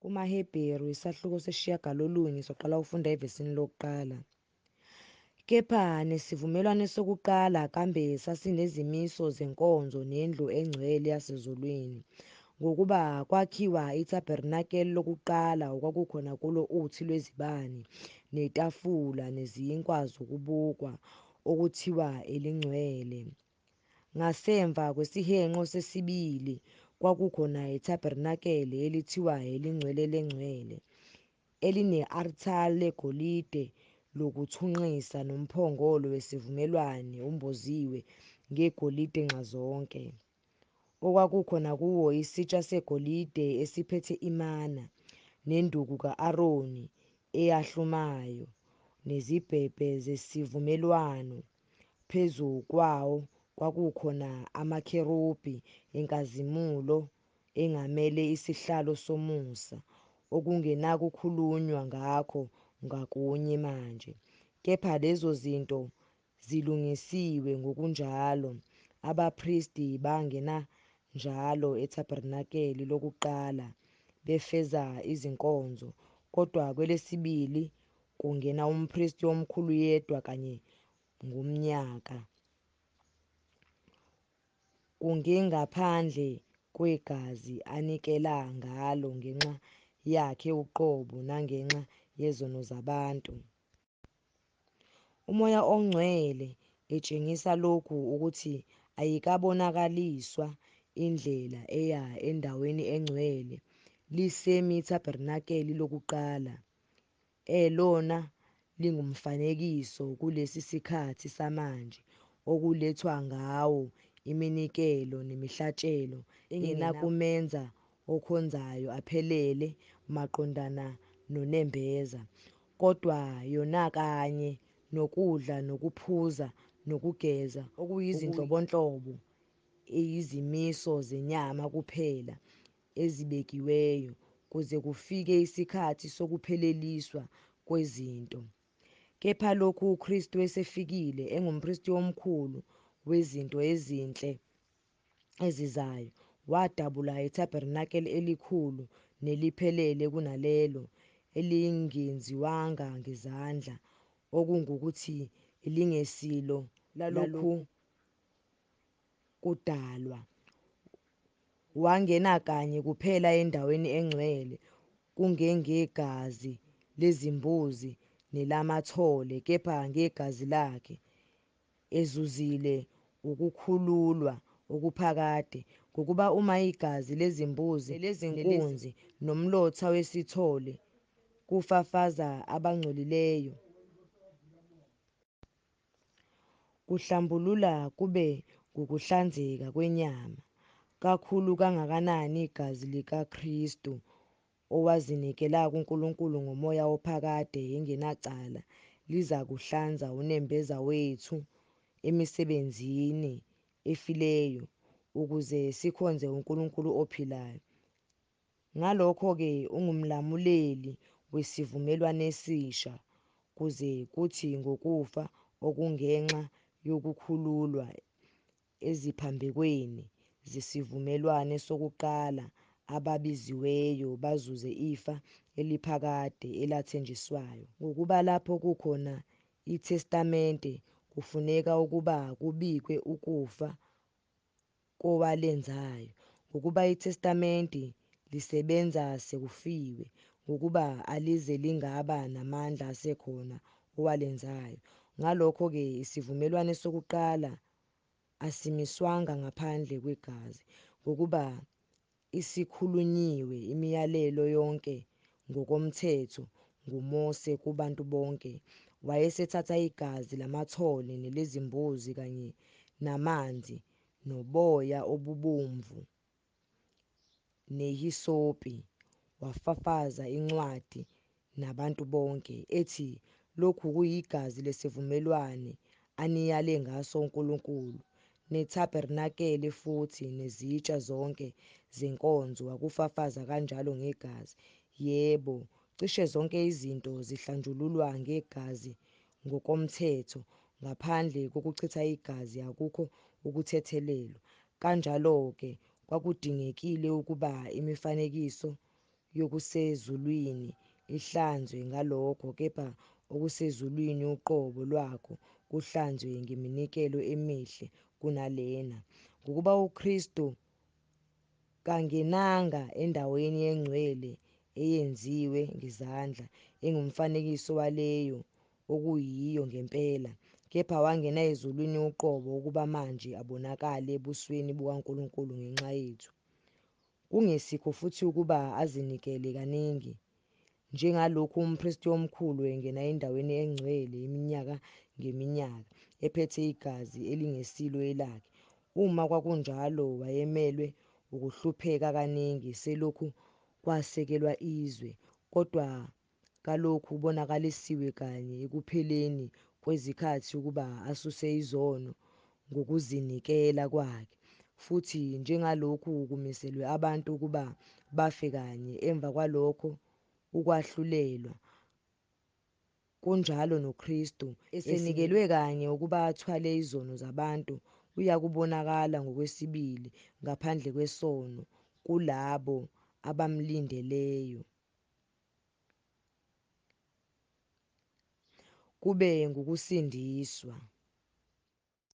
KumaHebheru, isahluko sesishiyagalolunye, soqala ukufunda evesini lokuqala. Kepha nesivumelwane sokuqala kambe sasinezimiso zenkonzo nendlu engcwele yasezulwini, ngokuba kwakhiwa ithabernakeli lokuqala okwakukhona kulo uthi lwezibani, netafula, nezinkwa zokubukwa, okuthiwa elingcwele. Ngasemva kwesihenqo sesibili kwakukhona ithabernakele elithiwa elingcwele lengcwele, eline-arthari legolide lokuthunqisa nomphongolo wesivumelwane umboziwe ngegolide nxazonke, okwakukhona kuwo isitsha segolide esiphethe imana, nenduku ka-Aroni eyahlumayo, nezibhebhe zesivumelwano. Phezu kwawo kwakukhona amakherubhi enkazimulo engamele isihlalo somusa, okungenakukhulunywa ngakho ngakunye manje, kepha lezo zinto zilungisiwe ngokunjalo, abapristi bangena njalo ethabernakeli lokuqala befeza izinkonzo, kodwa kwelesibili kungena umpristi omkhulu yedwa kanye ngomnyaka kungengaphandle kwegazi anikela ngalo ngenxa yakhe uqobo nangenxa yezono zabantu. Umoya ongcwele etshengisa lokhu ukuthi ayikabonakaliswa indlela eya endaweni engcwele lisemithabernakeli lokuqala, elona lingumfanekiso kulesi sikhathi samanje okulethwa ngawo iminikelo nemihlatshelo engenakumenza okhonzayo aphelele maqondana nonembeza, kodwa yona kanye nokudla nokuphuza nokugeza okuyizinhlobonhlobo eyizimiso zenyama kuphela, ezibekiweyo kuze kufike isikhathi sokupheleliswa kwezinto. Kepha lokhu uKristu esefikile engumpristi omkhulu wezinto ezinhle ezizayo, wadabula itabernakele elikhulu neliphelele kunalelo elingenziwanga ngezandla, okungukuthi, elingesilo lalokhu kudalwa. Wangena kanye kuphela endaweni engcwele kungengegazi lezimbuzi nelamathole kepha ngegazi lakhe, ezuzile ukukhululwa okuphakade ngokuba uma igazi lezimbuzi lezinkunzi nomlotha wesithole kufafaza abangcolileyo Kuhlambulula kube ngukuhlanzeka kwenyama, kakhulu kangakanani igazi likaKristu owazinikela kuNkulunkulu ngomoya ophakade engenacala lizakuhlanza unembeza wethu emisebenzini efileyo ukuze sikhonze uNkulunkulu ophilayo. Ngalokho-ke ungumlamuleli wesivumelwanesisha kuze kuthi ngokufa okungenxa yokukhululwa eziphambekweni zesivumelwane sokuqala ababiziweyo bazuze ifa eliphakade elathenjiswayo. Ngokuba lapho kukhona iTestamente kufuneka ukuba kubikwe ukufa kowalenzayo, ngokuba iTestamente lisebenza sekufiwe, ngokuba alize lingaba namandla asekhona owalenzayo. Ngalokho-ke isivumelwane sokuqala asimiswanga ngaphandle kwegazi, ngokuba Isikhulunyiwe imiyalelo yonke ngokomthetho nguMose kubantu bonke. Wayesethatha igazi lamathole nelezimbuzi kanye namanzi noboya obubomvu nehisopi, wafafaza incwadi nabantu bonke, ethi, Lokhu kuyigazi lesivumelwane aniyale ngaso uNkulunkulu, nethabernakele futhi nezitsha zonke zenkonzo wakufafaza kanjalo ngegazi. Yebo, cishe zonke izinto zihlanjululwa ngegazi ngokomthetho, ngaphandle kokuchitha igazi akukho ukuthethelelwa. Kanjalo-ke, kwakudingekile ukuba imifanekiso yokusezulwini ihlanzwe ngalokho, kepha okusezulwini uqobo lwakho kuhlanzwe ngeminikelo emihle kunalena, ngokuba uKristu kangenanga endaweni engcwele eyenziwe ngezandla, engumfanekiso waleyo okuyiyo ngempela, kepha wangena ezulwini uqobo ukuba manje abonakale ebusweni bukaNkulunkulu ngenxa yethu. Kungesikho futhi ukuba azinikele kaningi, njengalokhu umpristi omkhulu engena endaweni engcwele iminyaka ngeminyaka, ephethe igazi elingesilo elakhe. Uma kwakunjalo, wayemelwe ukuhlupheka kaningi selokhu kwasekelwa izwe, kodwa kalokhu kubonakalisiwe kanye ekupheleni kwezikhathi ukuba asuse izono ngokuzinikela kwakhe, futhi njengalokhu kumiselwe abantu ukuba bafe kanye emva kwalokho ukwahlulelwa, kunjalo noKristu, esenikelwe kanye ukuba athwale izono zabantu, uyakubonakala ngokwesibili ngaphandle kwesono kulabo abamlindeleyo. kube ngukusindiswa.